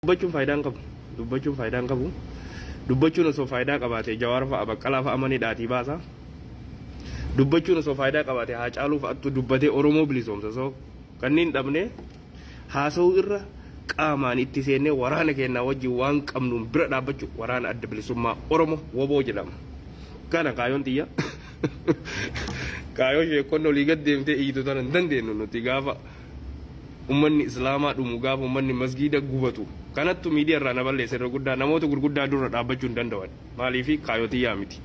dubbachuun faayidaa hin qabu dubbachuun faayidaa hin qabu dubbachuun osoo faayidaa qabaate jawaar fa'a baqqalaa fa'a mana hidhaatii baasa dubbachuun osoo faayidaa qabaate haa caaluu fa'attu dubbatee oromoo bilisoomsa osoo kanneen dhabnee haasa'uu irra qaamaan itti seennee waraana keenyaa wajjin waan qabnuun bira dhaabbachuu waraana adda bilisummaa Oromo waboo jedhama. Kana kaayoon tiyya kaayoo sheekkonni olii gad deemtee iyyitu tana hin dandeennu nuti gaafa ummanni islaamaa dhumu gaafa ummanni masgiida gubatu kanattu miidiya irraa na balleessa irra guddaa namoota gurguddaa durra dhaabbachuu hin danda'an maaliifi kaayoo tiyyaa miti.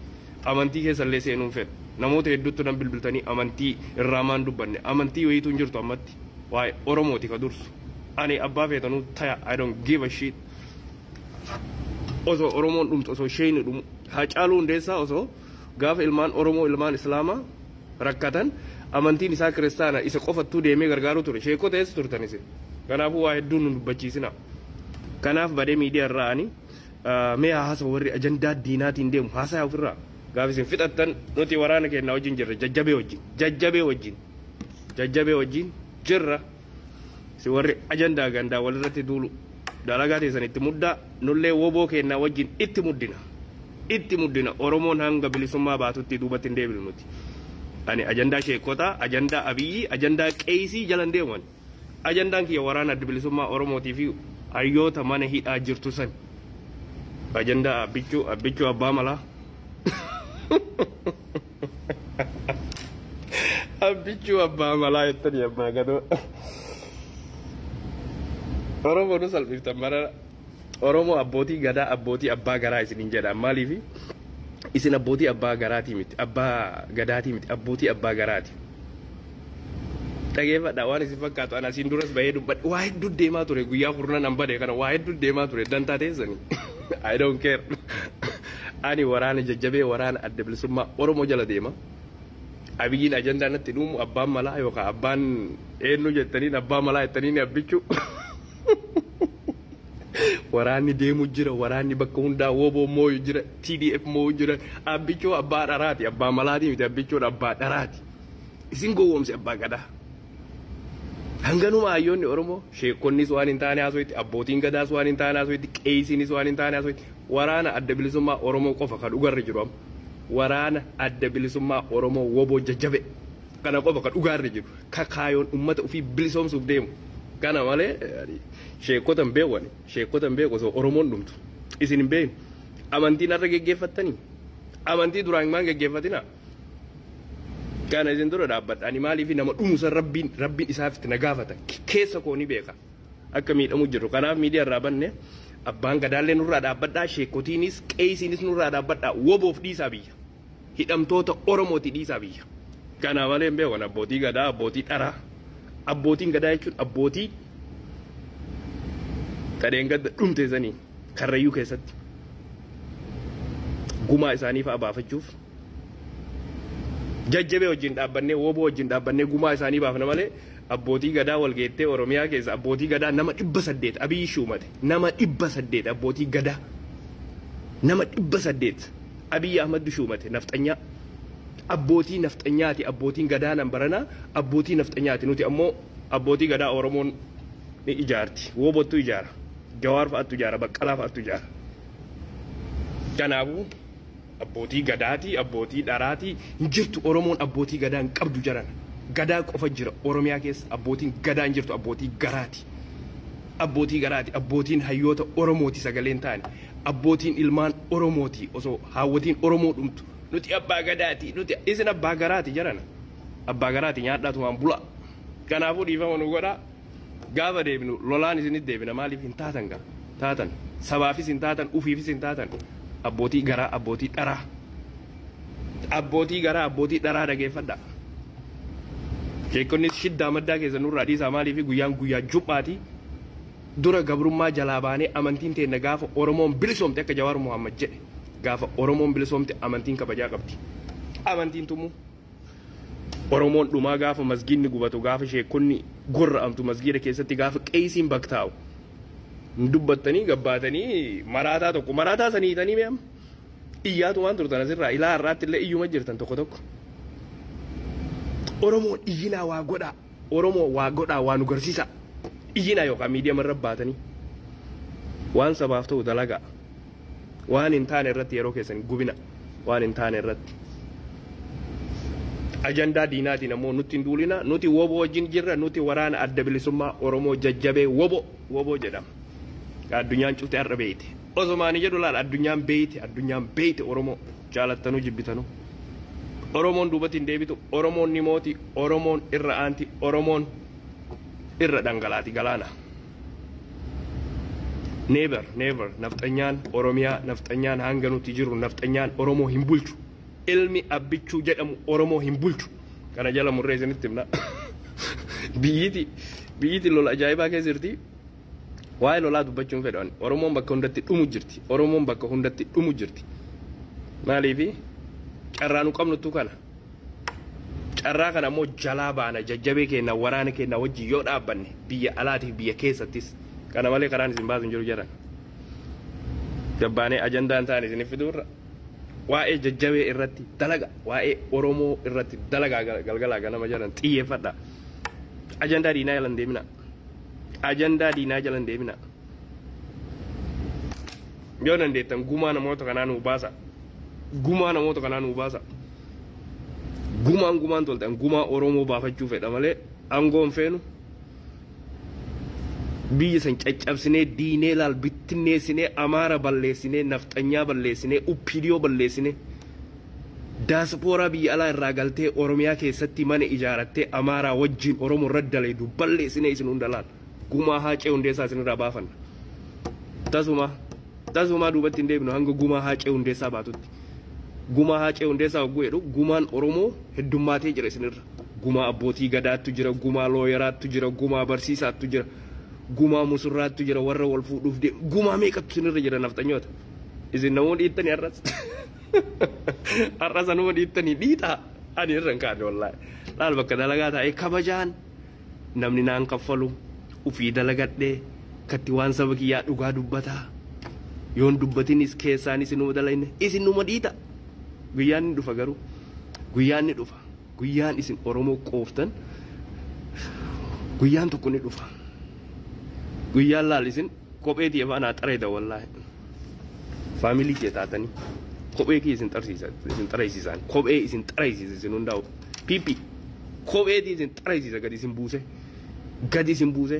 Amantii keessa illee seenuun fedha. Namoota hedduuttu nan bilbiltanii amantii irraa maan dubbanne. Amantii wayiitu hin jirtu ammatti. Waa'e Oromooti ka dursu. Ani abbaa feetanuu taya I don't give a shit. Osoo Oromoon dhumtu osoo sheeyni dhumu. Haacaaluu Hundeessaa osoo gaafa ilmaan Oromoo ilmaan Islaamaa rakkatan amantiin isaa kiristaana isa qofattuu deemee gargaaruu ture. Sheekota eessa turtan isin? Kanaafuu waa hedduu nun dubbachiisinaa. Kanaaf badee miidiya irraa ani Mee haa hasawu warri ajandaa diinaatiin deemu haasayaa ofirraa. Gaafa isin fixattan nuti waraana keennaa wajjin jirra jajjabee wajjin. Jajjabee wajjin. Jajjabee wajjin jirra. Isin warri ajandaa gandaa walirratti duulu dalagaa teessan itti muddaa nullee woboo keennaa wajjin itti muddina. Itti muddina Oromoon hanga bilisummaa baatutti duubatti hin deebinu nuti. Ani ajandaa sheekkotaa, ajandaa Abiyyii, ajandaa qeeysii jala hin deemu ani. Ajandaan kiyya waraana Adda Bilisummaa Oromootii fi hayyoota mana hidhaa jirtu sani. Ajandaa Abbichuu, Abbichuu Abbaa Malaa. Abbichuu Abbaa Malaa jettanii ammaa gadoo. Oromoo nu salphiftan marara. Oromoo abbootii gadaa abbootii abbaa garaa isiniin jedhaan maaliifi isin abbootii abbaa garaatii miti abbaa gadaatii miti abbootii abbaa garaati. Dhageeffadha waan isin fakkaatu ana asiin duras bahee dubbadhe waa hedduu deemaa ture guyyaa kurnan an bade kana waa hedduu deemaa ture dantaa teessanii I don't care ani waraana jajjabee waraana adda bilisummaa Oromoo jala deema abiyyiin ajandaa natti dhuumu abbaan malaa yookaan abbaan eenyu jettaniin abbaa malaa jettaniin abbichuu Waraanni deemu jira, waraanni bakka hundaa wbo mooyu jira, TDF mooyu jira. Abbichoo abbaa dharaati, abbaa malaati miti, abbichoon abbaa dharaati. Isin gowwoomse abbaa gadaa. Hanganuma hayyoonni Oromoo, sheekkonnis waan hin taane haasoytti, abbootiin gadaas waan hin taane haasoytti, qeeysiinis waan hin taane haasoytti, waraana adda bilisummaa Oromoo qofa ka dhugarra jiru amma. Waraana adda bilisummaa Oromoo wbo jajjabe. Kana qofa ka dhugaa irra jiru. Ka kaayoon ummata ufii bilisoomsuuf deemu. Kana malee ani sheekkota hin beeku ani. Sheekkota hin beeku osoo Oromoon dhumtu. Isin hin beekne. Amantiin har'a geggeeffattanii? Amantii duraan maan geggeeffatinaa? Kana isin dura dhaabbadha. Ani maaliif nama dhumu san Rabbiin Rabbiin isaaf itti na gaafata. Keessa koo ni beeka. Akka miidhamuu jirru. Kanaaf miidiyaa irraa banne. Abbaan Gadaallee nurraa dhaabbadhaa. Sheekkotiinis, qeeysiinis nurraa dhaabbadhaa. Woboof dhiisaa biyya. hidhamtoota Oromooti dhiisaa biyya. Kana malee hin beeku ani abbootii gadaa, abbootii dharaa. Abbootiin gadaa jechuun abbootii tadheen gadda dhumte sanii karrayyuu keessatti gumaa isaanii fa'a baafachuuf jajjabee wajjin dhaabbannee wooboo wajjin dhaabbannee gumaa isaanii baafna malee abbootii gadaa walgeettee Oromiyaa keessa abbootii gadaa nama dhibba saddeet abiyyi shuumate nama dhibba saddeet abbootii gadaa nama dhibba saddeet Abiy Ahmaddu shuumate nafxanyaa abbootii nafxanyaati abbootiin gadaa nan baranaa abbootii nafxanyaati nuti ammoo abbootii gadaa Oromoon ni ijaarti woobottu ijaara Jawaar fa'attu ijaara Baqqalaa fa'attu ijaara kanaafuu abbootii gadaati abbootii dharaati hin jirtu Oromoon abbootii gadaa hin qabdu jarana gadaa qofa jira Oromiyaa keessa abbootiin gadaa hin jirtu abbootii garaati abbootii garaati abbootiin hayyoota Oromooti sagaleen taani Abbootiin ilmaan oromooti osoo haawwatiin oromoo dhumtu nuti abbaa gadaati nuti isin abbaa garaati jarana abbaa garaati nyaadhaa tumaan bulaa kanaafuu dhiifama nu godhaa gaafa deebinu lolaan isinit deebina maaliif hin taatan gaa taatan sabaafis hin taatan ufiifis hin taatan abbootii garaa abbootii dharaa abbootii garaa abbootii dharaa dhageeffadhaa sheekonnis shiddaa maddaa keessa nurraa dhiisaa maaliif guyyaan guyyaa jum'aati Dura gabrummaa jalaa baanee amantiin teenna gaafa Oromoon bilisoomte akka Jawaar Mohammad jedhe gaafa Oromoon bilisoomte amantiin kabajaa qabdi. Amantiin tumuu. Oromoon dhumaa gaafa masgiidni gubatu gaafa sheekkonni gorra'amtu masgiida keessatti gaafa qeeysiin baktaa'u. Hin dubbattanii gabbaatanii maraataa tokko maraataa san hiitanii mee amma. Iyyaatumaan turtan asirraa ilaa har'aatti illee iyyuma jirtan tokko tokko. Oromoon iyyinaa waa godhaa. Oromoo waa godhaa waa nu garsiisaa iyyinaa yookaan miidiyama irra baatanii waan sabaaf ta'u dalagaa waan hin taane irratti yeroo keessan hin gubina waan hin taane irratti ajandaa diinaatiin ammoo nutti hin duulina nuti woboo wajjin jirra nuti waraana adda bilisummaa Oromoo jajjabee woboo woboo jedhama addunyaan cufte har'a beeyte osomaanii jedhu laal addunyaan beeyte addunyaan beeyte Oromoo. Jaalattanu jibbitanu Oromoon duubatti hin deebitu, Oromoon ni mooti, Oromoon irra aanti, Oromoon irra dhangalaati galaana. Never never nafxanyaan Oromiyaa nafxanyaan hanga nuti jirru nafxanyaan Oromoo hin bulchu. Ilmi Abbichuu jedhamu Oromoo hin bulchu. Kana jala murree isinitti himna. Biyyiti biyyiti lola ajaa'ibaa keessa jirti. Waa'ee lolaa dubbachuu hin fedhu ani. Oromoon bakka hundatti dhumu jirti. Oromoon bakka hundatti dhumu jirti. Maaliifi carraa nu qabnuttu kana. Carraa kana immoo jalaa baana jajjabee keenya waraana keenya wajjin yoo dhaabbanne biyya alaatiif biyya keessattis kana malee karaan isin baasu hin jiru jedhan. Gabbaanee ajandaan ta'an isinif fiduurra waa'ee jajjabee irratti dalaga waa'ee Oromoo irratti dalagaa galgalaa ganama jedhan xiyyeeffadha. Ajandaa diinaa jala hin deemina. ajandaa diinaa jala hin deeminaa. Yoo dandeettan gumaa namoota kanaa nuu baasa. Gumaa namoota kanaa nuu baasa. Gumaan gumaan toltan gumaa Oromoo baafachuu fedha malee aangoo hin feenu. Biyya san caccabsinee diinee laal bittinneessinee Amaara balleessinee nafxanyaa balleessinee Uppiidiyoo balleessinee. Daaspooraa biyya alaa irraa galtee Oromiyaa keessatti mana ijaarattee Amaaraa wajjiin Oromo irra dalaydu balleessinee isin hunda laal gumaa Haacee Hundeessaa isin irraa baafanna. Tasumaa tasumaa duubatti hin deebinu hanga gumaa Haacee Hundeessaa baatutti. Gumaa Haacee Hundeessaa hogguu jedhu gumaan Oromoo heddummaatee jira isin irra. Gumaa abbootii gadaattu jira, gumaa looyeraattu jira, gumaa barsiisaattu jira, gumaa musurraattu jira, warra wal fuudhuuf deemu gumaa meeqattu isin irra jira nafxanyoota. Isin namuu dhiittani har'as. Har'a sanuma dhiittanii dhiitaa ani irra hin kaane wallaahi. Laal bakka dalagaa taa'ee kabajaan namni naan kaffalu ufii dalagadhee katti waan saba kiyyaa dhugaa dubbataa yoon dubbatinis keessaan isinuma dalayne isinuma dhiita. Guyyaan ni dhufa garuu guyyaan ni dhufa guyyaan isin Oromoo qooftan guyyaan tokko ni dhufa. Guyyaan laal isin Kophee tiyya fa'a naa xarayda wallaahi. Faamilii kiyya taatanii kophee kiyya isin xarsiisa isin xaraysiisaan kophee isin xaraysiisa isin hundaa'u piippi kophee tiyya isin xaraysiisa gadi isin buuse gadi isin buuse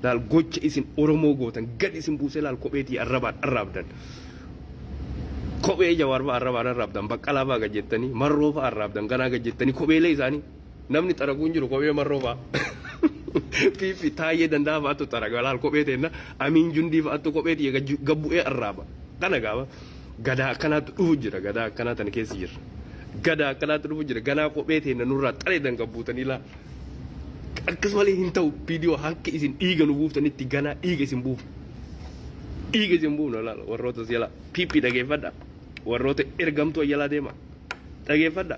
laal gocha isin Oromoo gootan gadi isin buuse laal kophee tiyya arrabaan arraabdan kophee jawaar fa'a arrabaan arraabdan baqqalaa fa'a gad jettanii marroo fa'a arraabdan ganaa gad jettanii kopheelee isaanii Namni xaraguu hin jiru kophee marroo fa'a. Piippi taayyee danda'a fa'atu xaraga walaal kophee teenna amiin jundii fa'atu kophee tiyya gabbu'ee arraaba. Kana gaaba gadaa akkanaatu dhufu jira gadaa akkanaa tana keessa jirra. Gadaa akkanaatu dhufu jira ganaa kophee teenna nurraa xareedan gabbuutanii laa. Akkas malee hin ta'u viidiyoo hanka isin dhiiga nu buuftanitti ganaa dhiiga isin buufna. Dhiiga isin buufna laala warroota si'alaa piippi dhageeffadha. Warroota ergamtuu ayyaanaa deema dhageeffadha.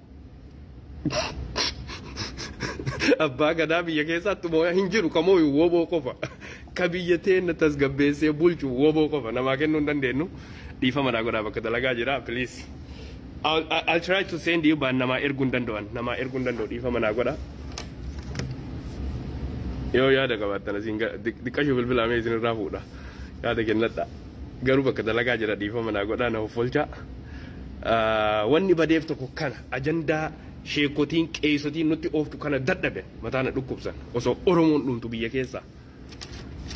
Abbaa gadaa biyya keessaatti mooyaa hin jiru kamooyu woboo qofa. Ka biyya teenna tasgabbeessee bulchu woboo qofa namaa kennuu hin dandeenyu. Dhiifama naa godhaa bakka dalagaa jira please. I'll, I- I'll try to send you but namaa erguu hin danda'an. Namaa erguu hin danda'u dhiifama naa godhaa. Yoo yaada qabaattan asiin ga- diq- diqqashuu bilbilaa mee isinirraa fuudha. Yaada kennadhaa. garuu bakka dalagaa jira dhiifama naa godhaa na hoffolchaa. Wanni badeef tokko kana ajandaa sheekotiin qeeysotiin nutti ooftu kana dadhaben mataa na dhukkubsan osoo Oromoon dhumtu biyya keessaa.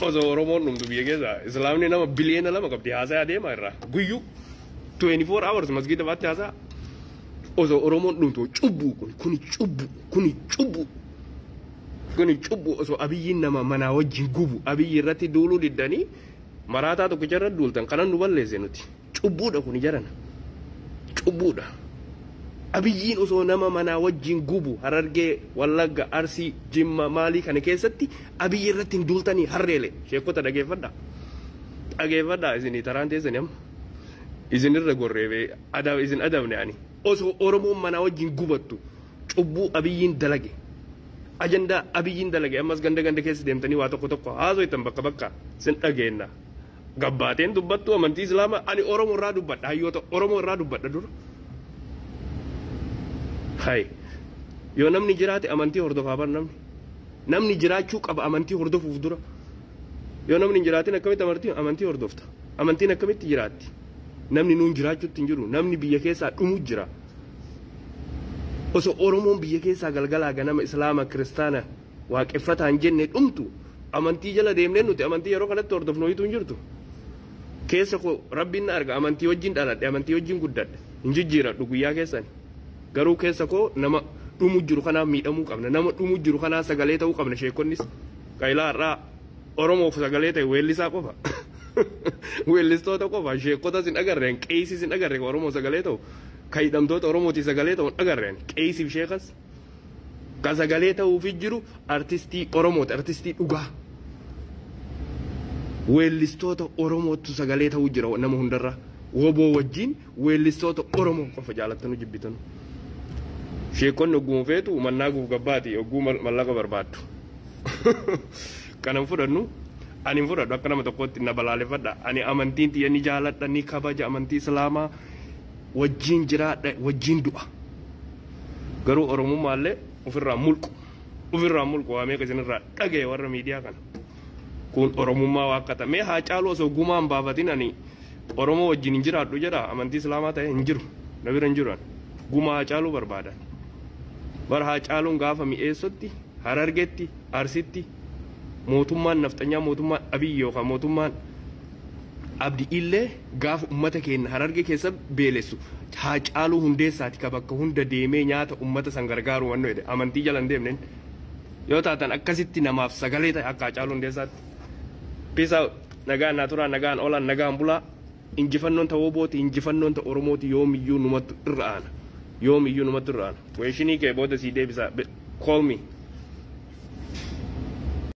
Osoo Oromoon dhumtu biyya keessaa Islaamni nama biliyeena lama qabdi haasayaa deema irraa guyyuu 24 hours masgiida baatti haasaa. Osoo Oromoon dhumtu cubbuu kun kuni cubbuu kuni cubbuu kuni cubbuu osoo abiyyiin nama manaa wajjin gubu abiyyi irratti duuluu diddanii Maraataa tokkicha irra duultan kanan nu balleesse nuti. Cubbuudha kuni jarana. Cubbuudha. Abiyyiin osoo nama manaa wajjin gubu Harargee, Wallagga, Arsii, Jimma maalii kana keessatti Abiyyi irratti hin duultanii harreele. Sheekkota dhageeffadhaa. Dhageeffadhaa isinii taraan teessani amma. Isin irra gorree bee isin adabne ani. Osoo Oromoon manaa wajjin gubattu cubbuu Abiyyiin dalage, ajandaa Abiyyiin dalage ammas ganda ganda keessa deemtanii waa tokko tokko haasoytan bakka bakka sin dhageenna. Gabbaateen dubbattu amantii Islaamaa ani Oromo irraa dubbadha hayyoota Oromo irraa dubbadha dura. Hay. Yoo namni jiraate amantii hordofaa bar namni. Namni jiraachuu qaba amantii hordofuuf dura. Yoo namni hin jiraatin akkamitti amartii amantii hordofta? Amantiin akkamitti jiraatti? Namni nuun jiraachuutti hin jiru. Namni biyya keessaa dhumu jira. Osoo Oromoon biyya keessaa galgalaa ganama Islaama, Kiristaana, Waaqeffataan jenne dhumtu amantii jala deemnee nuti amantii yeroo kanatti hordofnu wayiitu hin jirtu. Keessa koo Rabbiin na arga amantii wajjin dhaladhe amantii wajjin guddadhe hin jijjiiradhu guyyaa keessani. Garuu keessa koo nama dhumu jiru kanaaf miidhamuu qabna. Nama dhumu jiru kanaa sagalee ta'uu qabna sheekonnis. Qailaa har'aa. Oromoof sagalee ta'e weellisaa qofa. Weellistoota qofa. Sheekotas hin agarreen, qeeysis hin agarre kan Oromoo sagalee ta'u. Kan hidhamtoota Oromootii sagalee ta'u hin agarreen. Qeeysiif sheekas. Kan sagalee ta'uufi jiru artistii Oromooti. Artistii dhugaa. Weellistoota Oromoottu sagalee ta'uu jira nama hundarra. Woboo wajjin weellistoota Oromoo qofa jaalattanu jibbitanu. Sheekonni ogguma feetu mannaa guuf gabbaati ogguu mallaqa barbaaddu. Kanan fudhannu ani hin fudhadhu akka nama tokkootti na balaaleffadha. Ani amantiin tiyya ni jaaladha ni kabaja amantii Islaamaa wajjiin jiraadha wajjiin du'a. Garuu Oromummaa illee ofirraa hin mulqu. Ofirraa hin mulqu waa meeqa isinirraa dhagaye warra miidiyaa kana. Kun Oromummaa waa akka ta'e mee Haacaaluu osoo gumaa hin baafatin ani Oromoo wajjiin hin jiraadhu jedha amantii Islaamaa ta'e hin jiru na bira hin jiru ani. Gumaa Haacaaluu barbaada. Bara Haacaaluun gaafa mi'eessotti Harargetti, Arsitti mootummaan nafxanyaa mootummaan Abiy yookaan mootummaan Abdi illee gaafa ummata keenna Hararge keessa beelessu Haacaaluu Hundeessaati ka bakka hunda deemee nyaata ummata san gargaaru wanno jedhe amantii jala hin deemnen yoo taatan akkasitti namaaf sagalee ta'i akka Haacaaluu Hundeessaatti. Peace out. Nagaan naa turaa, nagaan oolaan, nagaan bulaa. Injifannoon ta wbo ti, injifannoon ta Oromoo ti yoomiyyuu numattu irra aana. Yoomiyyuu numattu irra aana. Question kee booda sii deebisaa. Call me.